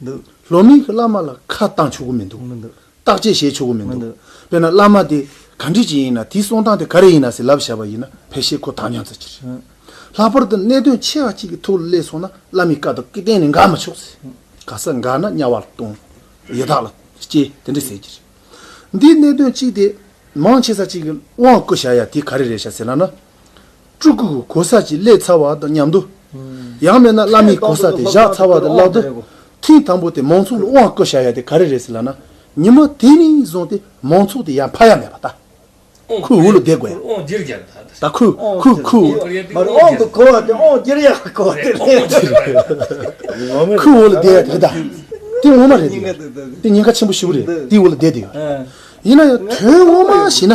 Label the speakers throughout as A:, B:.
A: འདུག། ལོ་མིང་གི་བླ་མ་ལ་ཁ་བཏང་ཆོག་གི་མི་འདུག། མི་འདུག། བརྟག་དཔྱད་བྱས་ཆོག་གི་མི་འདུག། མི་འདུག། དཔེར་ན་བླ་མ་དེ་ག་འདྲི་ཅིག་ཡིན་ན་དེའི་གསུང་སྟངས་དེ་ག་རེ་ཡིན་ན་ཟེར་ལབ་བཞག་པ་ཡིན་ན་ཕལ་ཆེར་ཁོ་དྭངས་སྙམ་ཚོད་ཀྱི་རེད། ལྷག་པར་དུ་གནད་དོན་ཆེ་བ་གཅིག་གི་ཐུགས་ལ་གླེགས་སོང་ན་བླ་མའི་བཀའ་དང་གཏན་ནས་འགལ་མ་ཆོག་ཟེར། ག་ས་འགལ་ན་དམྱལ་བ་ལ་ལྟུང། ཡི་དྭགས་ལ་སྐྱེ་དེ་འདྲ་ཟེར་གྱི་རེད། འདིའི་གནད་དོན་གཅིག་དེ། མང་ཆེ་ས་གཅིག་གི་དབང་བསྐུར་བྱ་ཡ་དེ་ག་རེ་རེད་བྱ་ཟེར་ན་ན། སྤྲུལ་སྐུ་གོ་ས་གཅིག་བསླད་ཚར་བ་དང་མཉམ་དུ། ཡང་མེད་ན་བླ་མའི་གོ་ས་དེ་བཞག་ཚར་བ་དང་ལག་ཏུ། ཐེངས་དང་པོ་དེ་མང་ཚོགས་ལ་དབང་བསྐུར་བྱ་ཡ་དེ་ག་རེ་རེད་ཟེར་ལབ་ན། ཉི་མ་དེ་ནས་བཟུང་སྟེ་མང་ཚོགས་དེ་ཡར་འཕར་ཡ་མེད་པ་ད། ཁོའི་འུ་ལོ་བསྡད་དགོས་ཡ། ད་
B: ཁོའི།
A: ཁོའི་འུ་ལོ་བསྡད་ཡ་དེ་གདའ། དེ་ངོ་མ་རེད་དེ་ཡོད་རེད། དེ་ཉེན་ཁ་ཆེན་པོ་ཞིག་རེད་དེ་འུ་ལོ་བསྡད་དེ་ཡོད་རེད། ཡིན་ན་ཡང་དོན་ངོ་མ་བྱས་ན།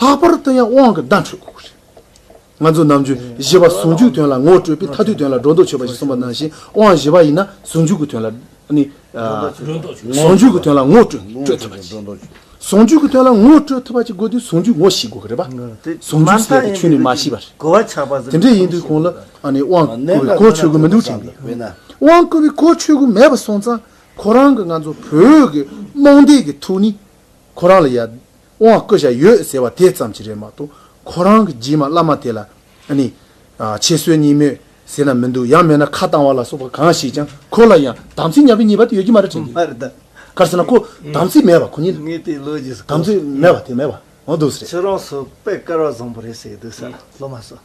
A: ལྷག་པར་དུ་ཡང་དབང་གི་བརྡ་འཕྲོད་དགོས་རེད། ང་ཚོས་ནམ་རྒྱུན་བཞི་པ་ཟུང་འཇུག་དོན་ལ་ངོ་སྤྲོད་པས་མཐའ་དུས་དོན་ལ་སྒྲོ་འདོགས་ཆོད་པ་ཞིག་གསུངས་པ་ནང་བཞིན་དབང་བཞི་པ་ཡིན་ན་ཟུང་འཇུག་གི་དོན་ལ་ནི། ཟུང་འཇུག་གི་དོན་ལ་ངོ་སྤྲོད་ཐུབ་པ་གཅིག། ཟུང་འཇུག་གི་དོན་ལ་ངོ་སྤྲོད་ཐུབ་པ་གཅིག་དགོས་དུས་ཟུང་འཇུག་ངོ་ཤེས་དགོས་ཀྱི་རེད་པ། ཟུང་འཇུག་ཟེར་བའི་ཆོས་ནི་མ་ཤེས་པ་རེད། དེ་འདྲ་
B: ཡིན་དུས་གོང་ལ་
A: དབང་བསྐུར་བའི་གོ་ཆོད་གི་མི་འདུག་དྲན་གི་ཡོད། དབང་བསྐུར་བའི་གོ་ཆོད་གི་མེད་པ་སོང་ཙང་ཁོ་རང་གི་ང་ཚོ་བོད་ཀྱི་རྨོངས་དད་ཀྱི་ཐུགས་ནི་ཁོ་རང་ལ་ཡ། དབང་བསྐུར་བྱ་ཡོད་ཟེར་བ་དེ་ཙམ་གྱིས་རེད་མ་གཏོགས་ཁོ་རང་གི་རྗེས་མ་བླ་མ་དེ་ལ་ནི། ཆེད་སྲོལ་གཉིས་མོད་ཟེར་ན་མི་འདུག་ཡང་མེད་ན་ཁ་བཏང་བ་ལ་སོགས་པ་གང་ཞིག་ཀྱང་ཁོ་ལ་ཡང་དམ་ཚིག་ཉམས་པའི་ཉེས་པ་དེ་ཡོད་ཀྱི་མ་རེད་དྲན་གྱི་ཡོད། གར་སོང་ན་
B: ཁོ་
A: དམ་ཚིག་མེད་པ་ཁོ་ཉིད་ངས་དེའི་ལོ་རྒྱུས་སུ་དམ་
B: གོ་ཚིག་སོང། མེད་པ་དེ་མེད་
A: པ་འོང་དུས་སུ་རེད། ཁྱོད་རང་སོ་པས་
B: དཀར་བ་བཟང་པོ་རེད་ཟེར་གྱི་འདུག་ས་སློབ་མ་སོ།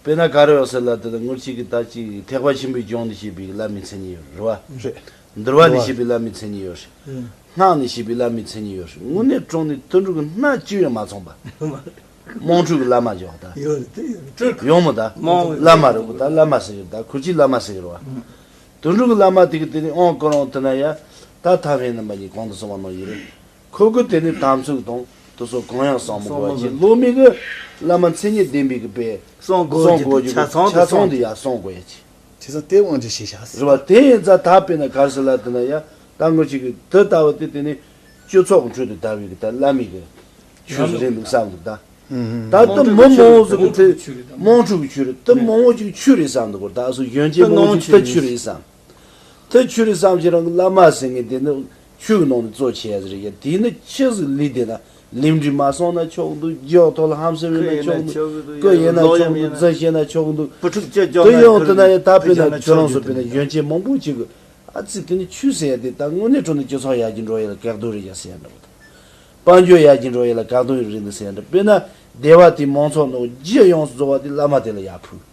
C: དཔེར་ན་གར་ཡོག་ཟེར་ལ་དེ་ལ་ངུར་ཅིག་གིས་ཏག་ཅིག་ཐེག་པ་ཆེན་པོའི་ལྗོངས་ནི་ཞེས་པའི་བླ་མའི་མཚན་ཉིད་ཡོད་རེད། འདུལ་བ་ནི་ཞེས་པའི་བླ་མའི་མཚན་ཉིད་ཡོད་རེད། སྔགས་ནི་ཞེས་པའི་བླ་མའི་མཚན་ཉིད་ཡོད་རེད། ངུར་ནས་དྲུང་ནས་དུད་འགྲོ་གི་སྣ་གཅིག་ཡང་མ་ཚང་པ། དམངས་ཁྲོད་ཀྱི་བླ་མ་ཇོ་བ་དག། ཡོང་མོད་དག། བླ་མ་རེད་བོ་དག་བླ་མ་ཟེར་ཡོད་དག་ཁུར་ཅིག་བླ་མ་ཟེར་ཡོད་རེད་བ། དུད་འགྲོ་གི་བླ་མ་དེ་གི་དེ་ནས་ཨོང་སྐོར་འོང་ཐུབ་ན་ཡ། ད་ཐང་ཧའེ་རྣམ་པ་གཉིས་གང་དུ་སོང་བ་ནང་ཡོད་རེད། འཁོད་དགོས་དེ་ནི་དམ་ཚིག་དང་དུ་སོགས་གང་ཡང་བསྲང་མི་དགོས་པ་གཅིག་བློ་མིག་གི་བླ་མ་མཚན་ཉིད་ལྡན་པའི་གི་པས་བསྲང་དགོས་ཀྱི་ཆ་ཚང་དུ་ཡང་བསྲང་དགོས་ཡ་གཅིག། དེ་ཚ་དེའི་དབང་ཆ་ཞེས་
A: བྱ། རེད་བ་དེ་ཡིན་ཚ་ད་
C: པེ་ན་གར་སི་ལ་དེ་ན་ཡ་ད་ངོ་ཅིག་གི་དེ་ད་བ་དེ་དེ་ནི་སྤྱི་ཚོགས་ཁྲོད་དུ་ད་བའི་གི་ད་བླ་མིག་གི་ཆོས་སུ་རེད་འདུག་བསམ་གི་ད། ད་དེ་མི་མང་བོ་ཟིག་གི་དེ་དམངས་ཁྲོད་ཀྱི་ཆོས་རེད་དེ་མང་བོ་ཅིག་ཆོས་རེད་བསམ་འདུག་གོ་ད་སུ་གཞོན་སྐྱེས་མང་བོ་ཅིག་ད་ཆོས་རེད་བསམ། དེ་ཆུ་རི་བསམ་ཤེས་རང་གི་བླ་མ་ཟེར་ངེས་དེ་ནི་ཆུའི་ནང་ནས་གཙོ་བྱས་ཟེར་ཡ་དེ་ནི་ཅི་ཟིག་ལུས་དེ་ན་ལིམ་དྲི་མ་སོང་ན་ཆོག་འདུག་རྒྱུ་ཡོག་ཐོག་ལ་ཧམ་སེམས་ཡོད་ན་ཆོག་འདུག་སྐུ་ཡིན་ན་ཆོག་འདུག་འཛིན་ཤེས་ན་ཆོག་འདུག་བུ་ཕྲུག་ཅེས་ཀྱང་ན་ཡོང་དུ་ན་ཡ་ད་པེ་ན་ཁྱོད་རང་སུ་པེ་ན་གཞོན་སྐྱེས་མང་པོ་ཅིག་གི་ཨ་ཙི་དེ་ནི་ཆུ་ཟེར་ཡ་དེ་ད་དངོས་གནས་དྲུང་ནས་སྤྱི་ཚོགས་ཡར་གྱི་འགྲོ་ཡ་ལ་གེགས་དོན་རེད་ཡ་ཟེར་འདྲ་བོ་དང། དཔལ་འབྱོར་ཡར་གྱི་འགྲོ་ཡ་ལ་གག་དོན་རེད་འདུག་ཟེར་འདྲ་བེ་ན་སྡེ་བ་དེའི་མང་ཚོགས་ནང་རྒྱུ་ཡོངས་སུ་རྫོགས་བ་དེ་བླ་མ་དེ་ལ་ཡར་ཕུལ།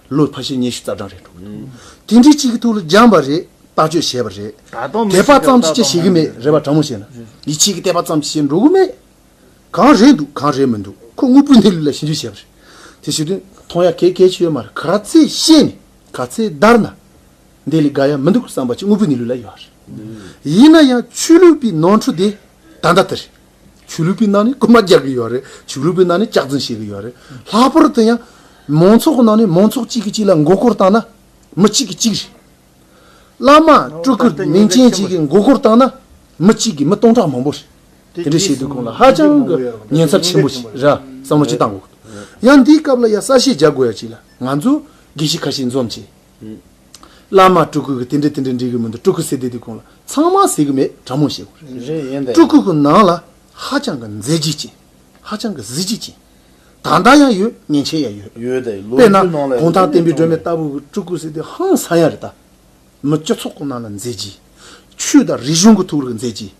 A: ལོ་ཕ་ཤེད་ཉེར་བཞི་རྩ་གྲངས་རེད་འགྲོ་གི་འདུག་དེ་འདྲའི་གཅིག་གི་ཐུགས་ལ་སྦྱངས་པ་རེད་བརྟག་དཔྱོད་བྱས་པ་རེད་ད་དུང་མི་དད་པ་ཞིག་གིས་ཙམ་བཏགས་གྱིས་བྱེད་ཀྱི་མེད་རེད་བ་དྲང་མོ་བཤད་ན་ཡིད་ཆེས་ཀྱིས་དད་པ་ཙམ་གྱིས་བྱེད་འགྲོ་གི་མེད་གང་རེད་འདུག་གང་རེད་མི་འདུག་ཁོ་དངོས་པོའི་གནས་ལུགས་ལ་ཞིབ་འཇུག་བྱས་པ་རེད་དེ་བྱེད་དོན་མཐོང་ཡ་གལ་གལ་ཆེ་ཡོད་མ་རེད་ག་ཚད་ཤེས་ནས་ག་ཚད་བདར་ན་འདི་ལས་དགའ་ཡ་མི་འདུག་བསམ་པ་གཅིག་དངོས་པོའི་གནས་ལུགས་ལ་ཡོད་རེད་ཡིན་ན་ཡང་ཆོས་ལུགས་པའི་ནོར་འཁྲུལ་དེ་ད་ལྟ་དེ་རེད། ཆོས་ལུགས་པའི་ནང་ནས་རྐུན་མ་རྒྱག་གི་ཡོད་རེད་ཆོས་ལུགས་པའི་ནང་ནས་ལྕགས་འཛིན་བྱེད་ཀྱི་ཡོད་རེད་ལྷག་པར་དུ་ཡང། མང་ཚོགས་ཀྱི་ནང་ནས་མང་ཚོགས་གཅིག་གིས་གཅིག་ལ་མགོ་སྐོར་བཏང་ན། མི་གཅིག་གིས་གཅིག་རེད། བླ་མ་སྤྲུལ་སྐུ་མིང་ཅན་གཅིག་གིས་མགོ་སྐོར་བཏང་ན། མི་གཅིག་གིས་མི་སྟོང་ཕྲག་མང་པོ་རེད། དེ་འདྲའི་བྱེད་སྡོད་ཁོང་ལ་ཧ་ཅང་གི་ཉེན་ཚབས་ཆེན་པོ་ཞིག་རེད་བསམ་བློ་ཅི་བཏང་དགོས། ཡང་འདིའི་སྐབས་ལ་ཡང་གསལ་བཤད་རྒྱག་དགོས་ཡ་གཅིག་ལ་ང་ཚོས་དགེ་བཤེས་ཁ་ཤས་འཛོམས་བྱས། བླ་མ་སྤྲུལ་སྐུ་གི་དེ་འདྲས་དེ་འདྲས་འདྲི་གི་མི་འདུག་སྤྲུལ་སྐུ་ཟེར་དེ་དུས་གོང་ལ་ཚང་མ་ཟེར་གི་མེད་དྲ་མོ་བཤད་དགོས་རེད། རེད་ཡིན་ཏེ། སྤྲུལ་སྐུ་གི་ནང་ལ་ཧ་ཅང་གི་མཛེས་བརྗིད་ཅན། ཧ་ཅང་གི་གཟི་བརྗིད་ཅན། དག་འདག་ཡང་ཡོད་ངན་ཆད་ཡང་ཡོད། ཡོད་དེ་ལོ་དཔེར་ན་རྒྱུས་ནང་
C: ལ་གུང་ཐང་
A: བསྟན་པའི་སྒྲོན་མེ་ལྟ་བུ་གི་སྤྲུལ་སྐུ་ཟེར་དེ་ཧང་སང་ཡང་རེད་ད། མི་སྤྱི་ཚོགས་གི་ནང་ལ་མཛེས་བརྗིད། ཆོས་དང་རིག་གཞུང་གི་ཐུགས་ལ་མཛེས་བརྗིད།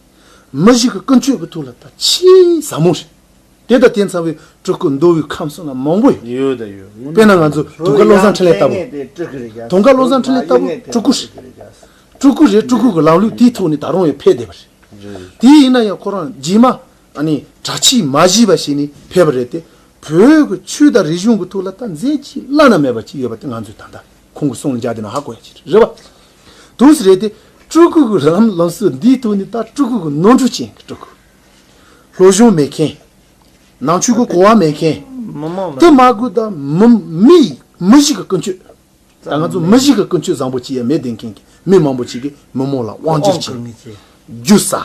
A: མི་གཞི་གི་ཀུན་སྤྱོད་ཀྱི་ཐུགས་ལ་ད་ཆེས་ཟབ་མོ་རེད། དེ་དང་དེ་མཚམས་བའི་སྤྲུལ་སྐུ་མདོ་དབུས་ཁམས་གསུམ་ལ་མང་པོ་ཡོད། ཡོད་དང་ཡོད་དངོས་དཔེར་ན་
C: ང་ཚོའི་དུང་དཀར་བློ་
A: བཟང་འཕྲིན་ལས་ལྟ་བུ། དུང་དཀར་བློ་བཟང་འཕྲིན་ལས་ལྟ་བུ་སྤྲུལ་སྐུ་རེད། སྤྲུལ་སྐུ་རེད་སྤྲུལ་སྐུ་གི་ལམ་ལུགས་དེའི་ཐོག་ནས་ད་རུང་ཡང་འཕེལ་བསྡད་པ་རེད། དེ་ཡིན་ན་ཡང་ཁོ་རང་རྗེས་མ་ནི་དྲག་ཆས་མ་བཞི་པ་ཞིག་ནས་ཕེབས་པ་རེད་དེ། བོད་ཀྱི་ཆོས་དང་རིག་གཞུང་གི་ཐུགས་ལ་ད་མཛད་ཅིག་བླ་ན་མེད་པ་ཅིག་ཡོད་པ་དེ་ང་ཚོས་ད་ལྟ་ཁོང་གི་གསུང་ལ་འཇགས་བསྡད་ན་ཧ་གོ་ཡ་ཆེ་རེད་བ། དུས་རེད་དེ། སྤྲུལ་སྐུ་གི་ལམ་སྲོལ་འདིའི་ཐོག་ནས་ད་སྤྲུལ་སྐུ་གི་ནོར་འཁྲུལ་ཅན་གྱི་སྤྲུལ་སྐུ། ལྷོ་གཞུང་མེད་མཁན། ནང་ཆོས་ཀྱི་གོ་བ་མེད་མཁན། དུ་མ་དགོས་ད། མི་མི་ཞིག་གི་ཀུན་སྤྱོད། ད་ང་ཚོ་མི་ཞིག་གི་ཀུན་སྤྱོད་བཟང་པོ་ཅི་ཡང་མེད་བསྡད་མཁན་གྱི་མི་མང་པོ་ཅིག་གིས་མི་མང་ལ་དབང་བསྒྱུར་བྱེད། རྒྱུ་ཟ།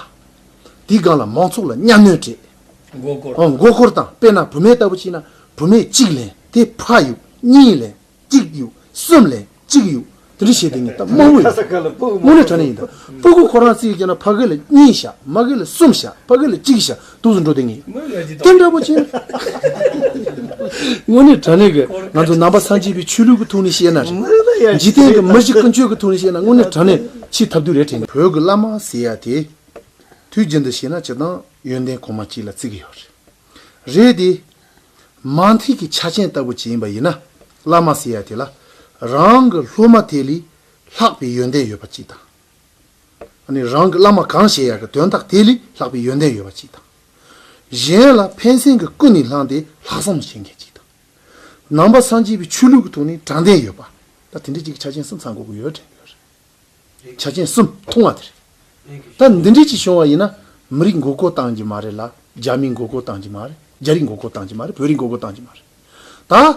A: དེའི་སྒང་ལ་མང་ཚོགས་ལ་གཉའ་གནོན་སྤྲད། མགོ་སྐོར་དང་དཔེར་ན་བུད་མེད་ལྟ་བུ་ཞིག་ན་བུད་མེད་གཅིག་ལེན་དེ་ཕ་ཡུག་གཉིས་ལེན། གཅིག་དབྱུག། གསུམ་ལས། གཅིག་དབྱུག། དེ་རིང་བྱས་ཏེ་ངས་ད་དམར་བོ་ཡོད། དངུལ་ལས་གྲ་ནས་ཡིན་ད། སྤུ་གུ་ཁོ་རང་རྩིས་ཀྱིས་ན་ཕ་གི་ལ་གཉིས་བཞག་མ་གི་ལ་གསུམ་བཞག་ཕ་གི་ལ་གཅིག་བཞག་དུག་སུ་འགྲོ་དེ་ངེས། དེ་འདྲ་པོ་བྱས་ན། དངུལ་ལས་གྲ་ནས་གི་ང་ཚོ་ནང་པ་ཚང་སྐྱིད་པའི་ཆོས་ལུགས་ཀྱི་ཐུགས་ནས་བཤད་ན་རེད། འཇིག་རྟེན་གྱི་མི་བཞི་ཀུན་སྤྱོད་ཀྱི་ཐུགས་ནས་བཤད་ན་དངུལ་ལས་གྲ་ནས་འཆི་ཐབས་དུས་རེད་དྲན། བོད་ཀྱི་བླ་མ་ཟེར་ཡ་དེ། དུས་རྒྱུན་དུ་བྱས་ན་ཅི་དང་ཡོན་ཏན་གོང་མ་སྐྱིད་ལ་རྩི་གི་ཡོད་རེད། རེད་དེ། མ་མཐིལ་གྱི་ཆ་ཅན་ལྟ་བུ་ཅིག་ཡིན་པ་ཡིན་ན། བླ་མ་སེ་ཡ་དེ་ལ་རང་གི་སློབ་མ་དེ་ལས་ལྷག་པའི་ཡོན་ཏན་ཡོད་པ་ཅིག་དང། ནི་རང་གི་བླ་མ་གང་ཞེ་ཡ་གི་དོན་དག་དེ་ལས་ལྷག་པའི་ཡོན་ཏན་ཡོད་པ་ཅིག་དང། གཞན་ལ་ཕན་སེམས་ཀྱི་ཀུན་ནས་བསླངས་ཏེ་ལྷག་བསམ་བྱེད་མཁན་ཅིག་དང། ནང་པ་སངས་རྒྱས་པའི་ཆོས་ལུགས་ཀྱི་ཐོག་ནས་དྲང་བདེན་ཡོད་པ། ད་དེ་འདྲ་ཅིག་གི་ཆ་ཅན་གསུམ་ཚང་དགོས་ཀྱི་ཡོད་དྲན་གྱི་ཡོད་རེད། ཆ་རྐྱེན་གསུམ་མཐོང་བ་དེ་རེད། ད་འདི་འདྲའི་ཅིག་བྱུང་བ་ཡིན་ན་མི་རིགས་མགོ་སྐོར་བཏང་གྱི་མ་རེད་ལ་རྒྱ་མིའི་མགོ་སྐོར་བཏང་གྱི་མ་རེད་རྒྱ་རིགས་མགོ་སྐོར་བཏང་གྱི་མ་རེད་བོད་རིགས་མགོ་སྐོར་བཏང་གྱི་མ་རེད།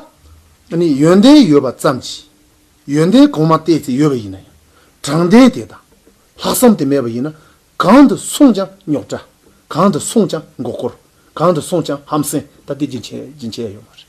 A: ད་ནི་ཡོན་ཏན་ཡོད་པ་ཙམ་གྱིས་ཡོན་ཏན་གོང་མ་བལྟས་ཚེ་ཡོད་པ་ཡིན་ན་ཡང་དྲང་བདེན་དེ་དང་ལྷག་བསམ་དེ་མེད་པ་ཡིན་ན་གང་དུ་སོང་ཀྱང་རྙོག་དྲ། གང་དུ་སོང་ཀྱང་མགོ་སྐོར། གང་དུ་སོང་ཀྱང་ཧམ་སེམས་ད་དེ་ཅིག་བྱེད་ཡ་ཡོད་མ་རེད།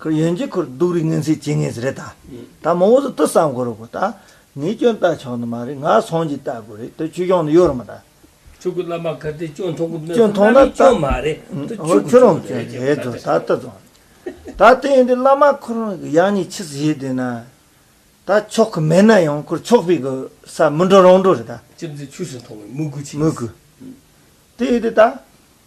B: ཁོ་ཡོན་གྱི་ཁོར་སྡུག་རིགས་ངན་ཚིག་བྱེད་ངེས་རེད་ད། ད་མང་བོ་ཟུར་ལྟ་བསམ་དགོས་རོགས་གོ་ད། ངས་སྐྱོན་བལྟ་ཆོག་ནི་མ་རེད་ང་ཚང་གྱིས་བལྟ་དགོས་རེད་དོ་ཆོས་སྐྱོང་ནི་ཡོད་རེད་མ་ད། ཕྲུ་གུ་བླ་མ་ག་
D: དེ་སྐྱོན་མཐོང་གི་མེད་དོ་
B: བླ་
D: མའི་སྐྱོན་མ་རེད་དོ་ཆོས་ཁྱོད་རང་
B: སྐྱོན་རེད་དོ་ད་ལྟ་བཟང་རེད་ད་དེ་ཡིན་དུས་བླ་མ་ཁོ་རང་གི་ཡག་ཉེས་ཕྱི་གསལ་བྱས་དུས་ན་ད་ཆོག་གི་མེད་ན་ཡང་ཁོར་ཆོག་པའི་གི་ས་མི་འགྲོ་རང་འགྲོ་རེད་ད། ཅི་འདི་ཆོས་སུ་མཐོང་
D: བའི་དམུ་རྒོད་ཆེ། དམུ་རྒོད།
B: དེ་ཡིན་དུས་ད།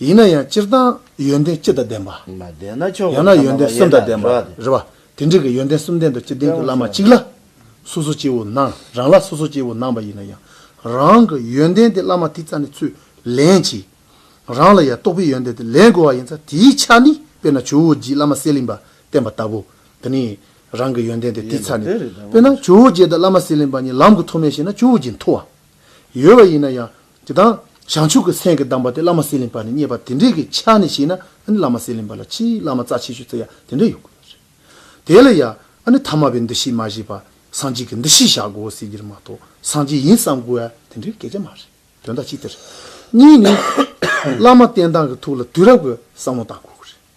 A: ཡིན་ན་ཡང་སྤྱིར་བཏང་ཡོན་ཏན་སྤྱི་དང་ལྡན་པ། ཡང་ན་ཡོན་ཏན་གསུམ་དང་ལྡན་པ། རེད་པ། དེ་འདྲི་གི་ཡོན་ཏན་གསུམ་ལྡན་དུ་སྤྱི་ལྡན་
C: གྱི་བླ་
A: མ་གཅིག་ལ། སོ་སོ་སྐྱེ་བོ་སྣང་རང་ལ་སོ་སོ་སྐྱེ་བོ་སྣང་བ་ཡིན་ན་ཡང། རང་གི་ཡོན་ཏན་དེ་བླ་མ་དེ་རྩ་ནས་ཚུར་ལེན་གྱིས། རང་ལ་ཡང་རྟོགས་པའི་ཡོན་ཏན་དེ་ལེན་དགོས་བ་ཡིན་ཚ་དེའི་ཆ་ནི་དཔེར་ན་ཇོ་བོ་རྗེས་བླ་མ་གསེར་གླིང་པ་བསྟེན་པ་ལྟ་བུ། དེ་ནི་རང་གི་ཡོན་ཏན་དེ་དེའི་ཚ་ནས། དཔེར་ན་ཇོ་བོ་རྗེ་དང་བླ་མ་གསེར་གླིང་པ་གཉིས་ལམ་གྱི་ཐོག་མའི་ཞིག་ན་ཇོ་བོ་རྗེ་མཐོ་བ། ཡོད་བ་ཡིན་ན་ཡང། དེ་དང། བྱང་ཆུབ་ཀྱི་སེམས་ཀྱི་གདམས་པ་དེ་བླ་མ་སེ་ལིང་པ་ནས་རྙེད་པ་དེ་འདྲས་ཀྱི་ཆ་ནས་བཤད་ན་ཨཱ་ནི་བླ་མ་སེ་ལིང་པ་ལ་ཕྱིའི་བླ་མ་རྩ་ཆེ་ཤོས་དེ་ཡང་དེ་འདྲས་ཡོད་དགོས་རེད། དེ་ལ་ཡང་ཨཱ་ནི་ཐ་མ་པའི་འདུ་ཤེས་མ་བཞེས་པར་སངས་རྒྱས་ཀྱི་འདུ་ཤེས་བཞག་དགོས་ཟེར་རྒྱུར་མ་གཏོགས་སངས་རྒྱས་ཡིན་བསམ་དགོས་ཨཱ་དེ་འདྲའི་སྐད་ཆ་མ་རེད་དོན་དག་གཅིག་དེ་རེད། གཉིས་ནི། བླ་མ་བསྟེན་སྟངས་ཀྱི་ཐུགས་ལ་དུས་རབས་ཀྱི་བསམ་བློ་བཏང་དགོས་ཀྱི་རེད།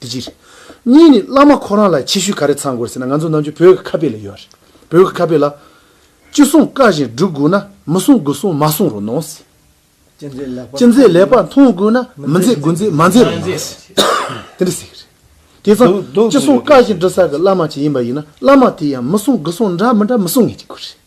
A: དེ་གཅིག་རེད། གཉིས་ནི་བླ་མ་ཁོ་རང་ལ་ཆེ་ཤོས་ག་རེ་ཚང་དགོས་ཟེར་ན་ང་ཚོ་ནང་ཆོས་བོད་ཀྱི་ཁ་དཔེ་ལ་ཡོད་རེད། བོད་ཀྱི་ཁ་དཔེ་ལ། ཅི་གསུང་བཀའ་བཞིན་སྒྲུབ་དགོས་ན་མི་གསུང་དགུ་གསུང་མ་གསུང་རུ་གནང་ཟེར། ཅི་མཛད་ལེགས་པར་མཐོང་དགོས་ན་མི་མཛད་དགུ་མཛད་མ་མཛད་རུ་གནང་ཟེར། དེ་འདྲ་ཟེར་གྱི་རེད། དེ་ཚང་ཅི་གསུང་བཀའ་བཞིན་སྒྲུབ་ས་གི་བླ་མ་ཅིག་ཡིན་པ་ཡིན་ན་བླ་མ་དེ་ཡང་མི་གསུང་དགུ་གསུང་འདྲ་མི་འདྲ་མི་གསུང་ངེས་ཀྱི་དགོས་རེད།